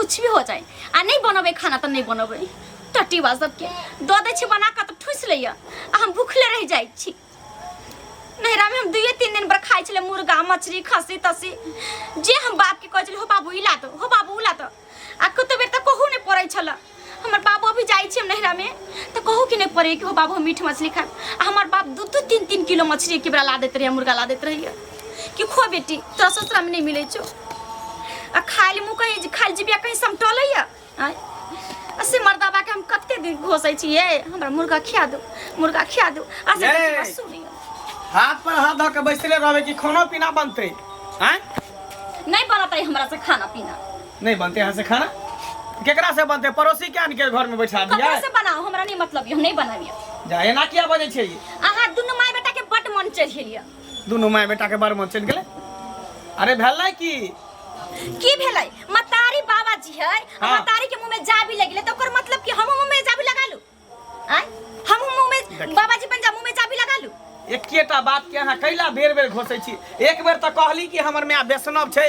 कुछ भी हो जाए आ नहीं बनबे खाना तो नहीं बनबे टट्टी बा सबके दऽ दै छी बना कऽ तऽ ठूसि लैए आ हम भूखले रहि जाइ छी नैहरा में हम दुए तीन दिन पर खाइ छलै मुर्गा मछली खस्सी तस्सी जे हम बाप के कहै छलियै हो बाबू ई ला दो हो बाबू उ ला दो आ कतो बेर तऽ कहू नहि पड़ै छल हमर बाबू अभी जाइ छी हम नैहरा में तऽ कहू कि नहि पड़ै कि हो बाबू हम मीठ मछली खाएब आ हमर बाप दू दू तीन तीन किलो मछली एके बेरा ला दैत रहैए मुर्गा ला दैत रहैए कि खो बेटी तोरा ससुरा में नहीं मिले छो आ खाली मुँह कहीं खाली जिबिया कहीं समटल है आँय? आ से मर्दाबा के हम कते दिन घोसै छियै हमरा मुर्गा खिया दो मुर्गा खिया दो आ से ये। देखियो, सुनियो हाथ पर हाथ धऽ के बैसले रहबे कि खाना पीना बनतै आँय नहीं बनत है हमरा से खाना पीना नहीं बनते यहाँ से खाना केकरा से बनते पड़ोसी के आन के घर में बैठा दिया ककरो से बनाओ हमरा नहीं मतलब यौ नहीं बनाबियो जा एना किया बजै छै ई? अहाँ दुनू माय बेटा के बड मन चढ़ेलिया दुनू माय बेटा के बरमन चल गेले अरे भेलै की की भेलै मतारी बाबा जी है हाँ। मतारी के मुंह में जाबी लगिले तो ओकर मतलब कि हम मुंह में जाबी लगा लू आय हम मुंह में देखिए। बाबा जी बन जा मुंह में जाबी लगा लू एकेटा बात के अहाँ कैला बेर बेर घोसै छी एक बेर तऽ कहली कि हमर माय वैष्णव छै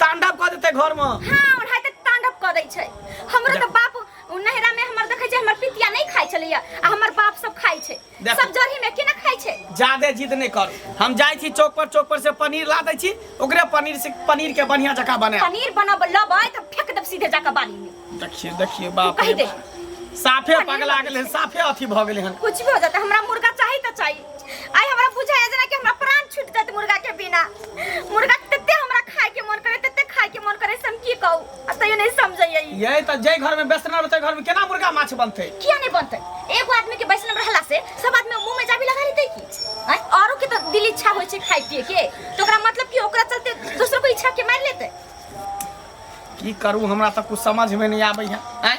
तांडव कऽ देतै घरमे हाँ ओढ़ाइ तऽ तांडव कऽ दै छै हमरो तऽ बाप नहिरा में हमर देखै छै हमर पितिया नहीं खाइ छलैया आ हमर बाप सब खाइ छै देखू। सब जरही में केना खाइ छै जादे जिद नहि कर हम जाइ छी चौक पर चौक पर से पनीर ला दै छी ओकरे पनीर से पनीर के बढ़िया जकाँ बनायब पनीर बनब लबै तऽ फेंक देब सीधे जाके बाली में देखिए देखिए बाप कहि रे दे बाप। साफे पगला गेलै साफे अथी भऽ गेलै हन कुछ भी हो जाता हमरा मुर्गा चाहिए तो चाहिए आई हमरा बुझाए जेना कि हमरा प्राण छूट जात मुर्गा के बिना मुर्गा तते हमरा खाए के मन करे तते खाए के मन करे से हम की कहू आ तैयो नहीं समझैयै ई। यही तऽ जाहि घरमे बेसना रहतै घरमे केना मुर्गा माछ बनतै किया नहीं बनते एगो आदमी के वैष्णव रहला से सब आदमी मुंह में जाबी लगा लेते की आय, औरो के तो दिल इच्छा होय छै खाए पिए के तो ओकरा मतलब कि ओकरा चलते दूसरो को इच्छा के मार लेते की करू हमरा तऽ कुछ समझमे नहि आबैए आँय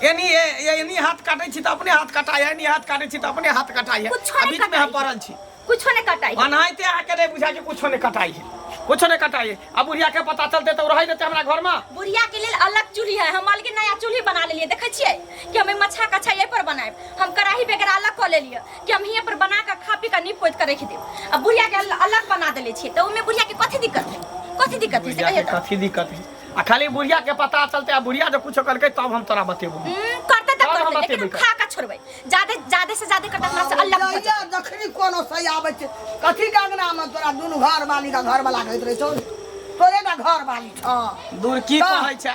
एनी ए- ए- एनी हाथ काटै छी तऽ अपने हाथ कटाइ एनी हाथ काटै छी तऽ अपने हाथ कटाइ कुछो आ नहि बीचमे हम कटाइ। पड़ल छी कुछो नहि कटाइ ओनाहिते अहाँके नहि बुझाइ छै कुछो नहि कटाइ छै कुछो नहि कटाइ छै आ बुढ़ियाके पता चलतै तऽ ओ रहै देतै हमरा घरमे बुढ़िया के लेल अलग चूल्ही है हम अलगे नया चूल्ही बना लेलिए देखे छिए कि हमें मछा कछा ये पर बनाए हम कढ़ाई वगैरह अलग कऽ लेलिए कि हम हियाँ पर बना के खा पी के नीप पोत के रख देब आ बुढ़िया के अल- अलग बना देले छियै तऽ ओहिमे बुढ़िया के कथी दिक्कत है कथी दिक्कत है से बुढ़िया कहिए के तऽ कथी दिक्कत है आ खाली बुढ़िया के पता चलते आ बुढ़िया जो कुछ करके तब हम तोरा बतेबो हम्म, करते तऽ और हम करते लेकिन हम बतेबै खा के छोड़बै जादे जादे से जादे करते हमरा से अलग भऽ जाइए, जखनी कोनो सही आबै छै कथी के अंगना मे तोरा दुनू घर वाली का घर वाला कहैत रहै छौ तोरे ने घर वाली छौ दूर की हँ। कहै छै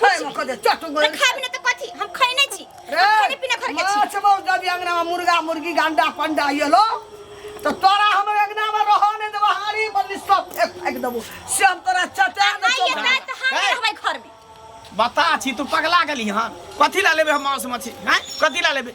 खाए में कदे चट तो गइल खाबी ना तो कथी हम खैने छी हम खाने पीना घर के छी माछ मौस दबी अंगना में मुर्गा मुर्गी गंडा पंडा ये लो तो तोरा हम अंगना में रहो ने देबो हाड़ी बल्ली सब एक फेंक देबो से हम तोरा चटा दे आइए चोपड़ा। रात हम ए। रहबै घर में बता छी तू पगला गेली हन कथी ला लेबे हम मांस मछली हैं कथी ला लेबे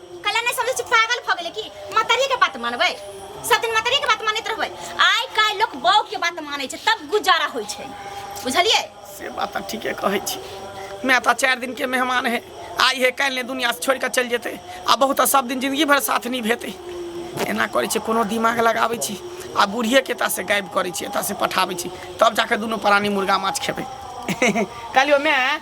कला नहीं समझे छी पागल भ गेले की मतरिये के बात मानबे सब दिन मतरिये के बात मानत रहबे आइ काल लोग बौ के बात माने छै तब गुजारा होय छै बुझलिए से बात तऽ ठीके कहै छी माय तऽ चारि दिनके मेहमान है आइ हे काल्हि ने दुनिया छोड़ि कऽ चलि जेतै आ बहुत तऽ सब दिन जिंदगी भरि साथ नहि भेतै एना करै छै कोनो दिमाग लगाबै छी आ बूढ़िएके एतऽसँ गायब करै छी एतऽसँ पठाबै छी तब जाके दुनू प्राणी मुर्गा माछ खेबै काल्हिओ माय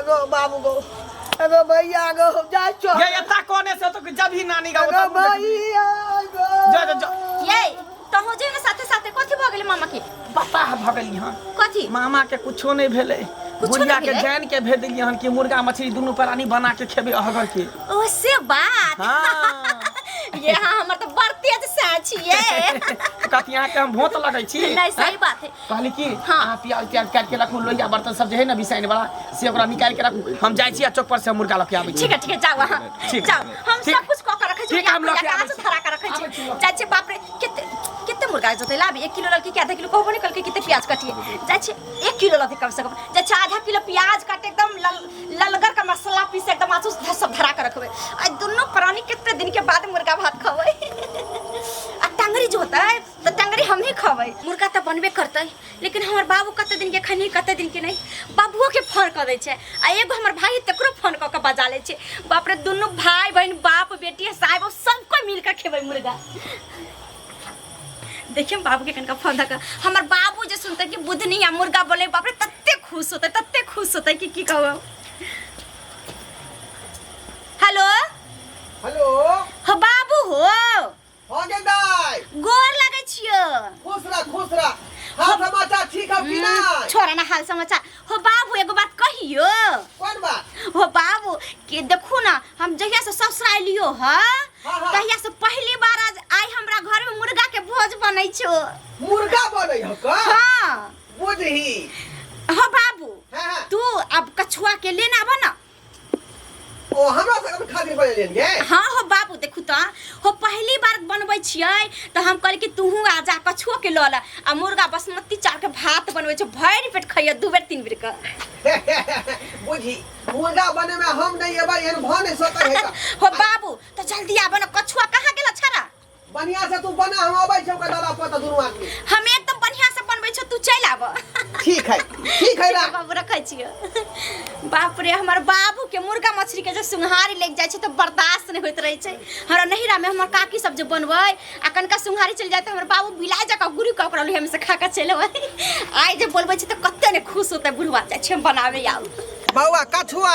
एगो बाबू गो एगो भैया गो जा चो ये इतना कोने से तो जब ही नानी का एगो उतना मुंह देखी। भैया गो जा जा जा ये तहु जे ने साथे साथे कथी भ गेल मामा के पता है भगली हां कथी मामा के कुछो नहीं भेले कुछो बुढ़िया नहीं के भेलै? जान के भेज दिलिए हन कि मुर्गा मछली दुनू प्राणी बना के खेबे अहगर के ओ से बात हाँ। ये हाँ हमर तो बड़ तेज साँची ये कहती यहाँ के हम भोत लगै छी नहीं सही बात है कहली कि हाँ। अहाँ प्याज त्याज काट के रखू लोहिया बर्तन सब जे है ना बिसाइन वाला से ओकरा निकाल के रखू हम जाइ छी आ चौक पर से मुर्गा लके आबै छी ठीक है ठीक है जाओ अहाँ ठीक। जाओ हम ठीक। सब कुछ कऽ के रखै छी ठीक, हम लऽ के कहाँ आबै से छी। धरा के रखै आबै छी छी लऽ। जाइ छी बाप रे कते कते मुर्गा जोते लाब एक किलो ललकी के आधा किलो कहबो नहीं कलके कते प्याज काटिए जाइ छी एक किलो ललकी कम से कम जाइ छी आधा किलो प्याज काटे एकदम लल ललगर का मसाला पीस एकदम आसू से सब धरा के रखबै आ दुनो प्राणी कते दिन के बाद मुर्गा भात खबै आ टंगरी जो होता है तो टंगरी हम ही खबै मुर्गा तो बनबे करतै लेकिन हमर बाबू कते दिन के खनी कते दिन के नहीं बाबुओ के फोन कर दै छै आ एगो हमर भाई तकरो फोन क के बजा लै छै बाप रे दुनू भाई बहन बाप बेटी आ साहेब सब कोई मिल के खेबै मुर्गा देखिए हम बाबू के कनका फोन धक्का हमर बाबू जे सुनते कि बुधनी या मुर्गा बोले बाप रे तते खुश होते तते खुश होते कि की कहू हेलो हेलो हाँ बाबू हो हो गेल दाय गोर लगै छियो खुश रह खुश रह हाल समाचार ठीक है कि नहीं छोरा ना हाल समाचार हो बाबू एगो बात कहियो कौन बात हो बाबू के देखू ना हम जहिया से ससुर आइलियो ह हाँ, हाँ। तहिया से पहली बार आज आई हमरा घर में मुर्गा के भोज बनै छो मुर्गा बने हो का हाँ बुझही हो बाबू हाँ हाँ तू अब कछुआ के लेना बना ओ हमरा सब खातिर बने लेन गे हाँ हो बाबू देखू तो हो पहली बार बनबै छियै तऽ हम कहली कि तूहूँ आ जा कछुओ के लऽ ले आ मुर्गा बासमती चाउर के भात बनबै छै भरि पेट खैया दू बेर तीन बेर के बुझी मुर्गा बने में हम नहीं एबा एहन भा नहीं सकत है हो बाबू तो जल्दी आबो ना कछुआ कहाँ गेल छड़ा बढ़िया से तू बना हम आबै छी ओकर दादा पोता दुनू आदमी हम एकदम बढ़िया से बनबै छौ तू चलि आब ठीक है ठीक है राम बाबू रखै छियो बाप रे हमर बाबू के मुर्गा मछली के जे सुंघारी लागि जाइ छै तऽ बर्दाश्त नहि होइत रहै छै हमरा नहिरा में हमर काकी सब जे बनबै आ कनका सुंघारी चलि जाइ तऽ हमर बाबू बिला जकाँ गुरु कऽ ओकरा लोहिया में से खा कऽ चलि अबै आइ जे बोलबै छै तऽ कते ने खुश होतै बुढ़वा जाइ छै हम बनाबै आउ बौआ कछुआ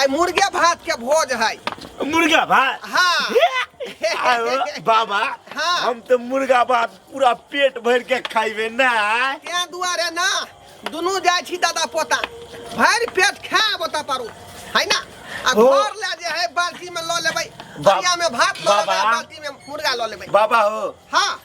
आई मुर्गे भात के भोज है मुर्गा भात हाँ आयो, बाबा हाँ। हम तो मुर्गा भात पूरा पेट भर के खाइबे ना तें दुआरे ना दुनू जाइ छी दादा पोता भरि पेट खाए बता पारू है ना आ ओ। घर ले जे है बाल्टी में लऽ लेबै बा- बरिया में भात लऽ लेबै बाबा। बाल्टी में मुर्गा लऽ लेबै बाबा हो हाँ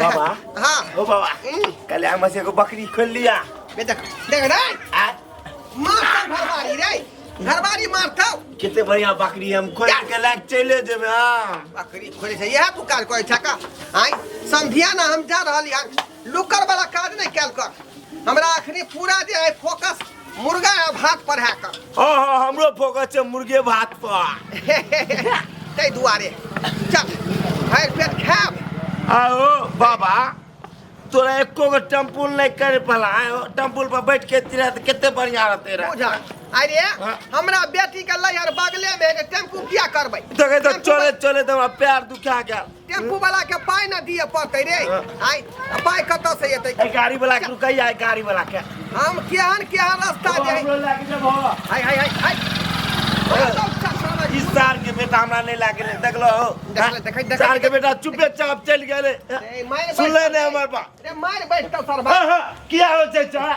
बाबा हाँ ओ बाबा हम्म। कल हम से को बकरी खोल लिया बे देख देख रे आ मारता घरवारी रे घरवारी मारता कितने बढ़िया बकरी हम खोल के लाग चले जेबे हां बकरी खोले छै यह पुकार कोई ठका आई संधिया ना हम जा रहल यान लुकर वाला काज नहीं कैल कर हमरा अखनी पूरा जे है फोकस मुर्गा आ भात पर है कर हाँ हाँ हमरो फोकस छै मुर्गे भात पर ताहि दुआरे चल भरि पेट खायब आओ बाबा तोरा एको गो टेम्पुल नहीं कर पाला टेम्पुल पर बैठ के तिरा तो कितने बढ़िया रहते रहा बुझा अरे हाँ। हमरा बेटी के लहर बगले में है, टेम्पू किया करबै देखे तो चले चले तो हमरा पैर दुखा गया टेम्पू वाला के पाई ना दिए पड़ते रे आई पाई कत से एते ए गाड़ी वाला के रुकै आइ गाड़ी वाला के हम केहन केहन रास्ता जाए हमरो लागे जब हो हाय हाय हाय हाय इस साल के बेटा हमरा नहीं लागे ले देखलो हो देखले, देखै, देखै, साल के देखै। बेटा चुपे चाप चल गेले सुनले ने हमर बा रे मार बैठ त सरबा हाँ, हाँ, किया हो छै छोरा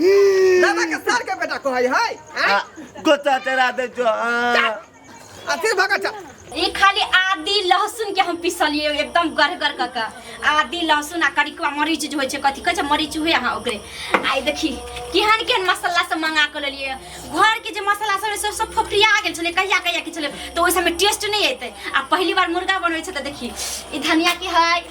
दादा के सार के बेटा कहै है आ, आँय? गोता तेरा दे जो आ, आ फिर भगा चल ई खाली आदि लहसुन के हम पिसलिए एकदम गरगर क के आदि लहसुन आ करिकवा मरीच जे होइ छै कथी कहै छै मरीच हुए अहाँ ओकरे आइ देखी केहन केहन मसाला सब मंगा के लेलिए घर के जे मसाला सब रहै से सब फोफरिया गेल छलै कहिया कहिया के छलै तऽ ओहि सबमे टेस्ट नहि एतै आ पहली बार मुर्गा बनबै छै तऽ देखी ई धनिया के है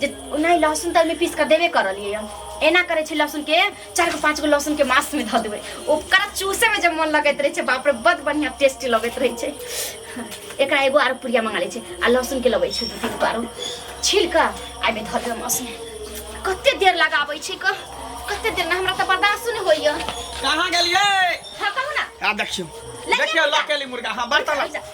जे नहि लहसुन तऽ एहिमे पीस कऽ देबे करलियै हम एना करै छै लहसुनके चारि गो पाँच गो लहसुनके मासमे धऽ देबै ओकरा चूसैमे जे मोन लगैत रहै छै बाप रे बड बढ़िआँ टेस्टी लगैत रहै छै एकरा एगो आरो पुड़िया मंगा लै छै आ लहसुनके लबै छै दू तीन गो आरो छील कऽ आ एहिमे धऽ देबै मासमे कतेक देर लगाबै छै कऽ कतेक देर नहि हमरा तऽ बर्दाश्त नहि होइए कहाँ गेलियै हँ कहू ने आ देखियौ लगे देखियौ मुर्गा। लकेली मुर्गा हाँ बर्तन लग-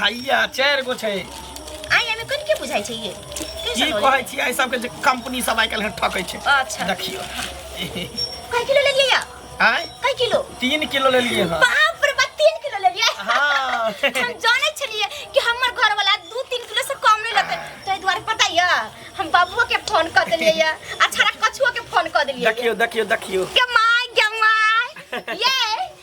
हैया चारि गो छै आइ एहिमे कोन के बुझाइ छै ये की कैसन होलै कहै छी एहि सबके जे कंपनी सब आइ काल्हि ठकै छै अच्छा देखियो कई किलो ले लिया आय कई किलो तीन किलो लेलिए हँ बाप रे बाप तीन किलो ले लिया हाँ। हम जाने छलिए कि हमर घर वाला दू तीन किलो से कम नहीं लेते ताहि दुआरे पता ये हम बाबुओ के फोन कर देलिए ये अच्छा रा कछुओ के फोन कर देलिए ये। देखियो देखियो देखियो गमाय गमाय ये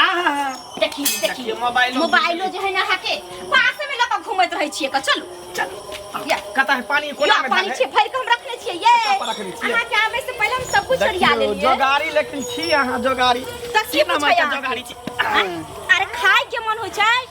आहा देखी देखी देखिए, मोबाइलो मोबाइलो जे है ना हाके पास में लगा घूमत रहे छिए का चलू चल या कता है पानी कोना या में पानी डाले? छिए भर के हम रखने छिए ये कता पर रखने छिए? अहाँ के आवे से पहले हम सब कुछ सरिया देखियो, लेलिए जोगारी लेकिन छी अहाँ जोगारी सच्ची की नाम पूछै है अहाँ? जोगारी छी अरे खाए के मन हो छै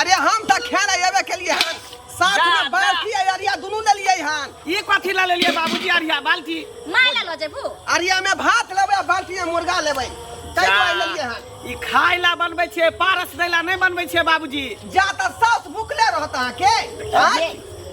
अरे हम त खेल आवे के लिए हन साथ जा, में बाल्टी आ अरिया दुनू ले लिए हन ई कथी ला लेलिए बाबूजी अरिया बाल्टी माय ला लो जेबू अरिया में भात लेबे आ बाल्टी में मुर्गा लेबे कई जा, गो ले लिए हन ई खाय ला बनबै छियै पारस दै ला नहि बनबै छियै बाबूजी जा त सास भुखले रहत अहाँ के आँय?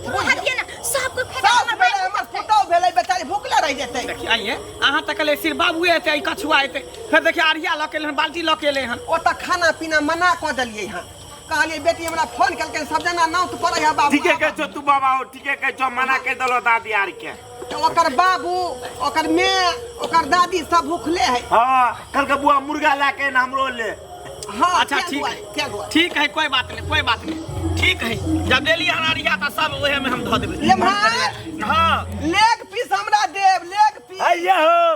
हटिए ना सब को फेंक सास भेले हमर पुतौ भेले बेचारी भुखले रह जेतै देखिए आइए अहाँ तक ले सिर्फ बाबुए एतै ई कछुआ एतै फेर देखिए अरिया लऽ के एलै हन बाल्टी लऽ के एलै हन ओतऽ खाना पीना मना कऽ देलियै हँ कहलियै बेटी हमरा फोन केलकै सब जना नौत पड़ै है बाबू ठीके कहै छौ तू बाबा हो ठीके कहै छौ मना कहि देलो दादी आर के तऽ ओकर बाबू ओकर माय ओकर दादी सब भूखले है हाँ कल के बुआ मुर्गा ला के ना हमरो ले हाँ अच्छा, क्या ठीक दुआरे, है। क्या दुआरे? ठीक है कोई बात नहीं कोई बात नहीं ठीक है जब देली हन अरिया तऽ सब ओहे में हम धऽ देबै लेम्हर हाँ लेग पीस हमरा देव लेग पीस आइए हो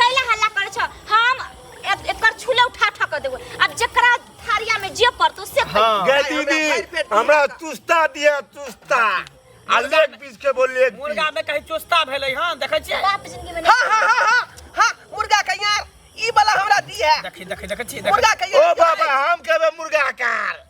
कैला हल्ला करे छ हम ए- एकर छूले उठा उठा कर देबो अब जेकरा थारिया में जे पड़तो से खइहो। हाँ गे दीदी हमरा तुस्ता दिया तुस्ता आ लेग पीस के बोल लेग मुर्गा पीस में कहीं चोस्ता भेलै हँ देखै छियै बाप जिंदगी में हाँ हाँ हाँ हाँ हाँ मुर्गा के यार ई वाला हमरा दी है देखी देखी देखै छियै देखै मुर्गा के ओ यार बाबा हम कहबे मुर्गा कार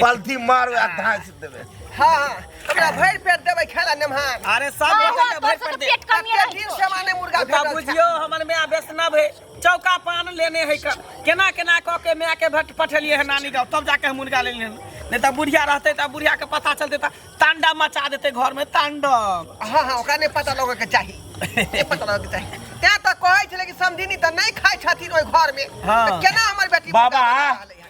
पलथी मार आ धांस देबे हाँ हाँ हमरा भरि पेट देबै खाय ला नेमहार अरे सब हाँ, बेटा हाँ, के भर तोर से पर तो दे पेट कम ये कते रही दिन से माने मुर्गा ओकरा भेटल छै। बुझियो हमर माय वैष्णव है चौका पान लेने है क- केना केना कऽ के माय के भट पठेलिए है नानी गाँव तब जाके हम मुर्गा लेलिए हन। नहि तऽ बुढ़िया रहतै तऽ बुढ़िया के पता चलतै तऽ तांडव मचा देतै घर में तांडव हाँ हाँ ओकरा नहि पता लगैके चाही नहि पता लगैके चाही तैं तऽ कहै छलै कि समझिनी तऽ नहि खाइ छथिन ओहि घरमे हाँ। तऽ केना हमर बेटी बाबा। मुर्गा बना रहलै हन?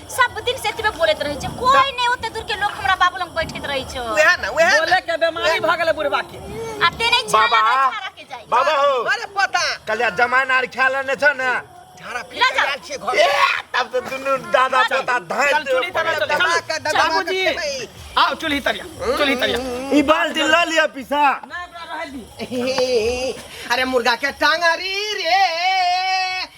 सब दिन से एतबे बोलैत रहै छै कोई नै ओते दूर के लोग हमरा बाबू लग बैठैत रहै छै वएह ना वएह ना बोले के बीमारी भ गेलै बुढ़बा के आ ते नै छाला बाबा। नै छाला के जाइ बाबा हो अरे पता कलिया जमाना आर ख्याल ने छ ने झाड़ा फिर लगा। आयल छियै घर ए, तब तो दुनू दादा चाचा धाय चल चुली तना चल दबा के चल दबा बाबूजी के खेबै। आओ चुली तरिया चुली तरिया ई बाल्टी ल लिया पीसा ना एकरा रहे दी अरे मुर्गा के टांगरी रे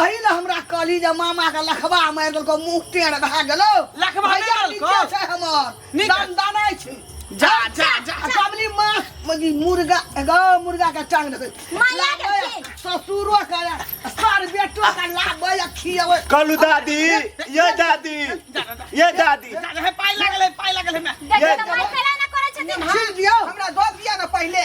अही ने हमरा कहली जे मामा के लखबा मारि देलको मुंह टेढ़ भए गेलो लखबा नहि भैया देलको? नीचे छै हमर नीचे। दान दानै छै जा जा जा आ सबली माँ मजी मुर्गा एगो मुर्गा के टांग देखे माया के लाबै, खेल। ससुरो के सर बेटो के लाबै आ खियाबै कहलू दादी ये दादी ये दादी जा जा, हे पाइ लागल हे पाइ लागल हे माय देखियो तऽ माय खेला ना करै छथिन छील दियो हमरा दऽ दिया ना पहिले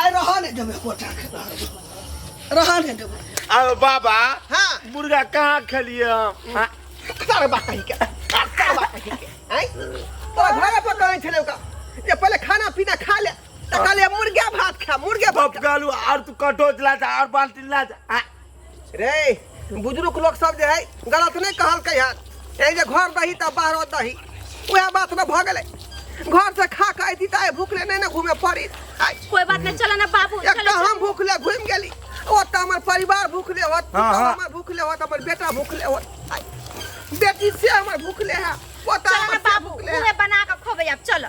आइ रहऽ ने देबै कोटा के रहऽ ने देबै अरे बाबा हाँ मुर्गा कहाँ खेलिए हम हाँ, सर बात कही के सर बात कही के हैं तोरा घरे पर कहै छलै ओका जे पहिले खाना पीना खा ले तऽ कहलियै मुर्गा भात खा मुर्गा भात खा। बबगालू और तू कटोच ला जा और बाल्टी ला जा हाँ, रे बुजुर्ग लोग सब जे है गलत नहीं कहलकै हन ए जे घर दही त बाहर दही वह बात न भ गेलै घर से खा के अयती त आइ भूखले नहीं न घूमे पड़ी आइ कोई बात नहीं चलो ना बाबू एक चलो, त हम भूखले घूम गेली ओ त हमर परिवार भूखले होत तू हाँ, त हाँ। हमर भूखले होत हमर बेटा भूखले होत आइ, बेटी से हमर भूखले है ओ त चलो ना हमर से बाबू भूखले है उहे बना के खोबे अब चलो